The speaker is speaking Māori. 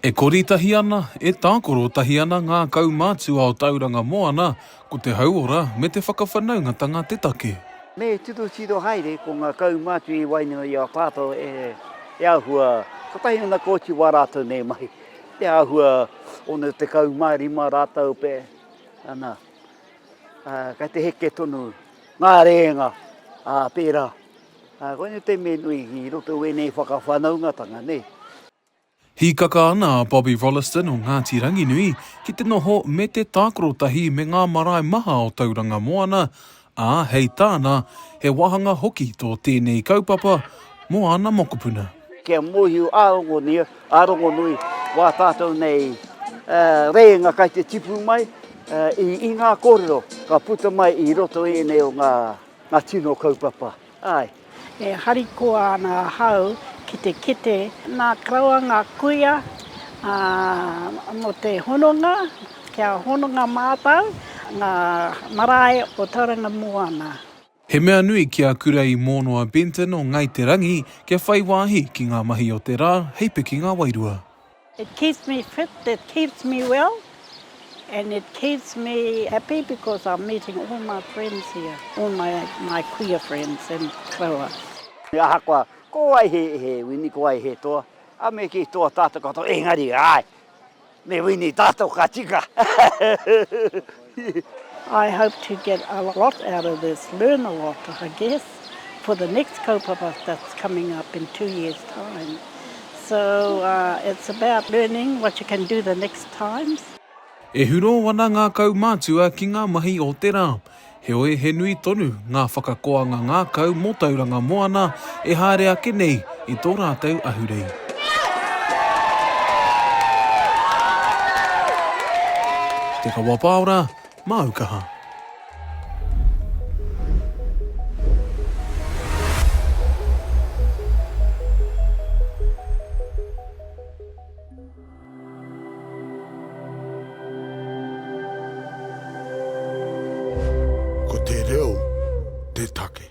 E kori tahi ana, e tākoro tahi ana ngā kaumātua o Tauranga Moana, ko te hauora me te whakawhanaungatanga te take. Me titotito haere ko ngā kaumātua i waenga i a tātou e āhua, kotahi ana ka oti wā rātou nei mahi, e āhua 65 rātou pea, ana, Kei te heke tonu ngā rēnga pērā. Koinei te mea nui i roto i wēnei whakawhanaungatanga, nē. Hīkaka ana a Bobby Rolleston o Ngāti Ranginui ki te noho me te tākaro tahi me ngā marae maha o Tauranga Moana, ā, hei tāna, he wāhanga hoki tō tēnei kaupapa mō āna mokopuna. Kia mōhio ā-rongonia A Rongonui, wā tātou nei rēinga kai te tipu mai, i ngā kōrero ka puta mai i roto i ēnei o ngā tino kaupapa. Āe. E harikoa ana ahau ki te kite nā karaua ngā kuia mō te hononga, kia hononga mātou ngā marae o Tauranga Moana. He mea nui ki a Kura i Mōno a Benton o Ngai Te Rangi kia whai wāhi ki ngā mahi o te rā hei pikinga wairua. It keeps me fit, it keeps me well and it keeps me happy because I'm meeting all my friends here, all my my kuia friends and koroua. Ahakoa ko wai he wini, ko wai he toa, a me kī toa tātou katoa, engari, āe! Me wini tatou ka tika. I hope to get a lot out of this, learn a lot I guess for the next kaupapa that's coming up in two years time so it's about learning what you can do the next times. E hurō ana ngā kaumātua ki ngā mahi o te rā. Heoi, he nui tonu ngā whakakoanga ngākau mō Tauranga Moana e haere ake nei i tō rātou ahurei. Te Kawapaora, māu kaha. Ko te reo te take.